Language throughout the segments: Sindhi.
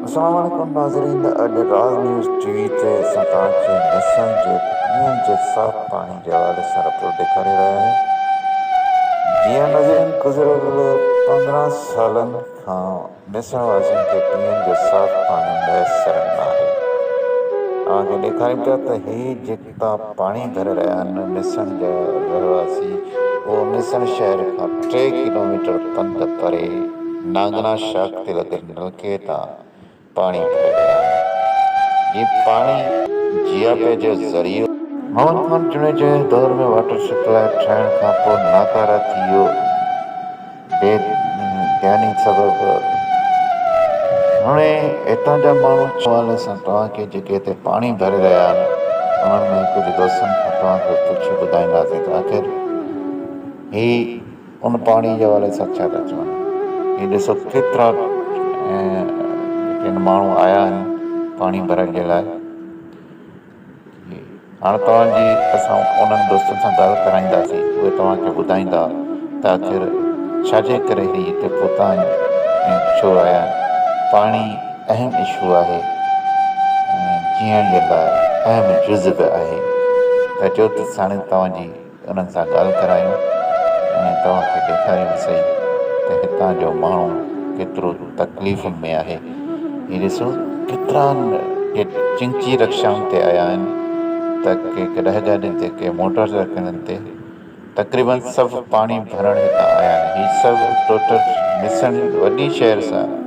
السلام عليڪم ناظرين اڄ راز نيوز ٽي وي تي اسان توهان کي نيسان جي پيئڻ جي صاف پاڻي جي حوالي سان رپورٽ ڏيکاري رهيا آهيون جيئن ناظرين گذريل پندرهن سالن کان نيسان واسين کي پيئڻ جو صاف پاڻي ميسر ناهي اوهان کي ڏيکاريون پيا ته هي جيڪي تا پاڻي ڀري رهيا آهن ميسڻ جا رهواسي اهو ميسڻ شهر کان ٽي ڪلوميٽر پنڌ پري نانگنا شاخ تي لڳل نلڪي تان پاڻي ڀري رهيا آهن جي پاڻي جياپي جو ذريعو محمد خان جوڻيجا جي دور ۾ واٽر سپلاء ٺهڻ کانپوء ناڪاره ٿي ويو. بي ڌياني سبب هاڻي هتان جا ماڻهو چون ٿا حوالي سان توهان کي جيڪي هتي پاڻي ڀري رهيا آهن انهن ۾ ڪجهه دوستن کان توهان کي پڇي ٻڌائينداسين ته آخر هي ان پاڻي جي حوالي سان ڇا ٿا چون هي ڏسو ڪيترا ۽ جيڪي هن ماڻهو آيا آهن پاڻي ڀرڻ جي لاء هاڻ توهان جي اسان انهن دوستن سان ڳالهه ڪرائينداسين، اهي توهان کي ٻڌائيندا ته آخر ڇا جي ڪري هي هتي پهتا آهن ۽ ڇو آيا آهن. پاڻي اهم اشو آهي ۽ جيئڻ جي لاء اهم جز به آهي. ته چوٿ ساڻس توهان جي. انهن سان ڳالهه ڪرايون ۽ توهان کي ڏيکاريون سهي ته هتان جو ماڻهو ڪيترو تڪليفن ۾ آهي. هي ڏسو ڪيترا ڪي چنچي رڪشائن تي آيا آهن ته ڪي ڪڏهه گاڏين تي ڪي موٽر سائيڪلن تي. تقريباً سڀ پاڻي ڀرڻ هتان آيا آهن. هي سڀ ٽوٽل ميسڻ وڏي شهر سان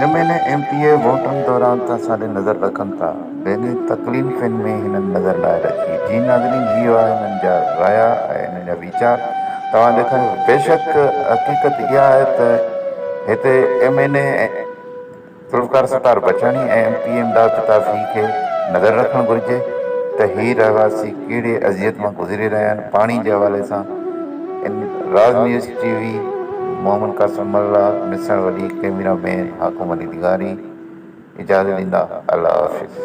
M N A M P A ووٽن دوران ته ساڏي نظر رکن ٿا بيني تڪلينفين ۾ هنن نظر ناهي رکي جي ناظرين هي هئا هنن جا رايا ۽ هنن جا ويچار توهان ڏيکاريو بيشڪ حقيقت اها آهي ته هتي M N A Zulfiqar Sattar Bachani ۽ M P Imdad Altafi کي نظر رکڻ گهرجي ته هي رهواسي ڪهڙي اذيت مان گذري رهيا آهن، پاڻي جي حوالي سان ان Raaz news T V Muhammad Qasim Mallah Misan وڏي ڪيميرا مين حاڪم علي لغاري اجازت ڏيندا الله حافظ.